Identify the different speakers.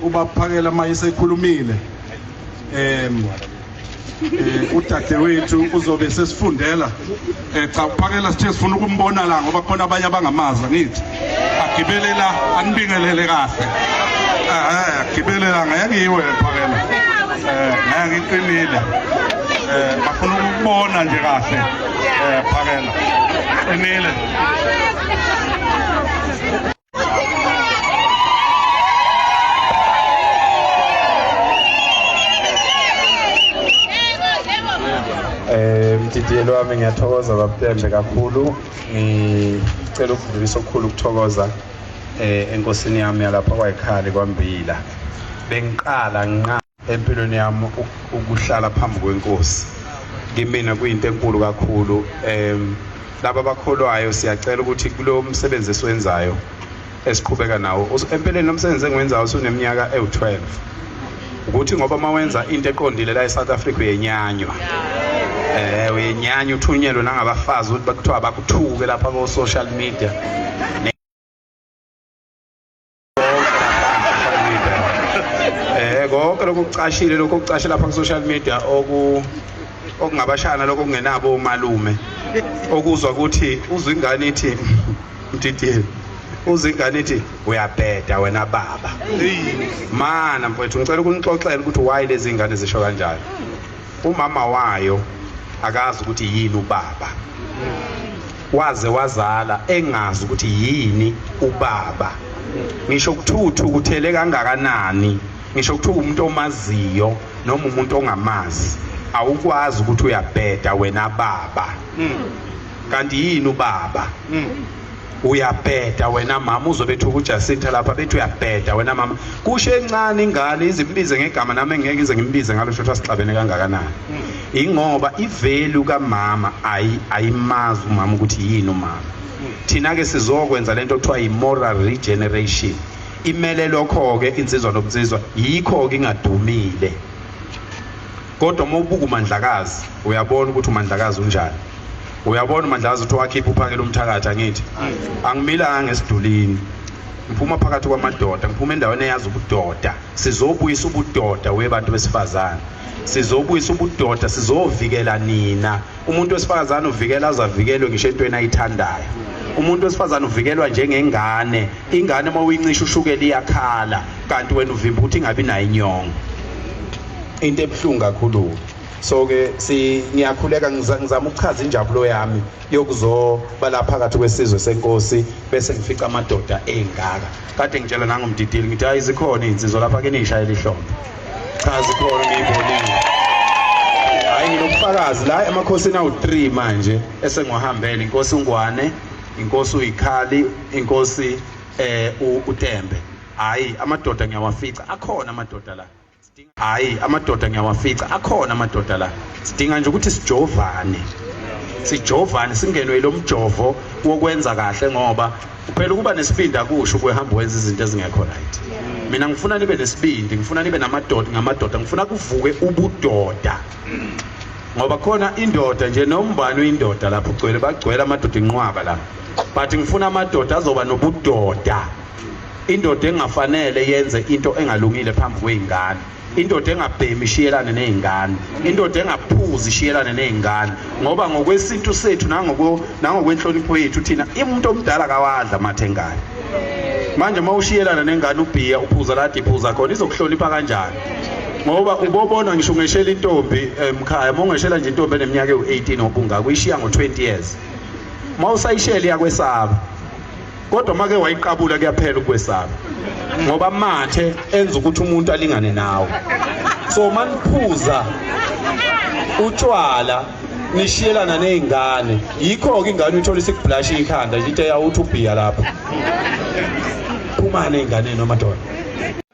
Speaker 1: ubaphakela uma esekhulumile um eh, udadewethu uzobe sesifundela um cha uphakela sithe sifuna ukumbona la ngoba khona abanye abangamazi angithi agibele la anibingelele kahle eh, agibele la ngeke ngiyiwe phakela um ngeke ngiqinile um bafuna ukubona nje kahle um phakela qinile
Speaker 2: Eh mdidiyelo wami ngiyathokoza babutembe kakhulu ngicela ukudlulisa okukhulu ukuthokoza eh enkosini yami yalapha kwayikhali kwambila bengiqala nqa empilweni yami ukuhlala phambi kwenkosi kimina kuyinto enkulu kakhulu um laba bakholwayo siyacela ukuthi kulo msebenzi esiwenzayo esiqhubeka nawo empeleni lo msebenzi engiwenzayo usuneminyaka ewu-12 ukuthi ngoba uma wenza into eqondile la e-south africa uyenyanywa um uyenyanywa uthunyelwe nangabafazi ukuthi bakuthiwa bakuthuke lapha ko-social media Eh konke lokho kucashile lokho kucashe lapha ku social media oku okungabashana lokho kungenabo omalume okuzwa ukuthi uzwa ingane ithi mdidiyeni uzwa ingane ithi uyabheda wena baba mana mfowethu ngicela ukunixoxela ukuthi why lezi ingane zisho kanjalo umama wayo akazi ukuthi yini ubaba Waze wazala engazi ukuthi yini ubaba. Ngisho ukuthuthu kuthele kangakanani. Ngisho ukuthi umuntu omaziyo noma umuntu ongamazi awukwazi ukuthi uyabheda wena baba. Hmm. Kanti yini ubaba? Hmm. uyabheda wena mama uzobethu kuJacinta lapha bethi uyabheda wena mama kusho encane ingane izimbize ngegama nami engeke ize ngimbize ngalo shotha sixabene kangakanani ingoba ivelu kamama ayimazi umama ukuthi yini umama thina-ke sizokwenza le nto kuthiwa yi-moral regeneration imele lokho-ke insizwa nobunsizwa yikho-ke ingadumile kodwa uma ubuka umandlakazi uyabona ukuthi umandlakazi unjani uyabona umandlakazi ukuthi wakhipha uphakela umthakathi angithi angimilanga ngesidulini ngiphuma phakathi kwamadoda ngiphuma endaweni eyazi ubudoda sizobuyisa ubudoda webantu besifazane sizobuyisa ubudoda sizovikela nina umuntu wesifazane uvikela azavikelwe ngisho entweni ayithandayo umuntu wesifazane uvikelwa njengengane ingane uma uyincisha ushukela iyakhala kanti wena uvimba ukuthi ingabi nayo inyongo into ebuhlungu kakhulu so ke si ngiyakhuleka ngizama ukuchaza injabulo yami yokuzoba la phakathi kwesizwe senkosi bese ngifica amadoda engaka kade ngitshela nangomdidili ngithi hayi zikhona izinsizwa lapha ke nishayela ihlombe Cha zikhona ngiyibonile. Hayi nginobufakazi la emakhosini awu-3 manje esengiwahambele inkosi uNgwane, inkosi uyikhali, inkosi eh uTembe. Hayi amadoda ngiyawafica akhona amadoda la. Hayi amadoda ngiyawafica akhona amadoda la. Sidinga nje ukuthi sijovane. Sijovane singenwe ilomjovo wokwenza kahle ngoba Phela ukuba nesibindi akusho ukuhamba wenza izinto ezingekho right. Mina ngifuna nibe nesibindi, ngifuna nibe namadoda ngamadoda, ngifuna kuvuke ubudoda. Ngoba khona indoda nje nombani uyindoda lapho ugcwele bagcwele amadoda inqwaba la. But ngifuna amadoda azoba nobudoda. Indoda engafanele yenze into engalungile phambi kweingane. indoda engabhemi ishiyelane nezingane indoda engaphuzi ishiyelane nezingane ngoba ngokwesintu sethu nangoko nangokwenhlonipho yethu thina umuntu omdala kawadla mathe ngane manje uma ushiyelana nengane ubhiya uphuza lade iphuza khona izokuhlonipha kanjani ngoba ubobona ngisho ungeshela intombi emkhaya uma ungeshela nje intombi eneminyaka ewu-18 obungaka uyishiya ngo-20 years uma usayishela iyakwesaba kodwa make wayiqabula kuyaphela ukwesaba ngoba mathe enza ukuthi umuntu alingane nawe so maniphuza utshwala nishiyelana nezingane yikho ke ingane uthola isikublash ikhanda nje ite yawuthi ubhiya lapha phumane ingane nomadoda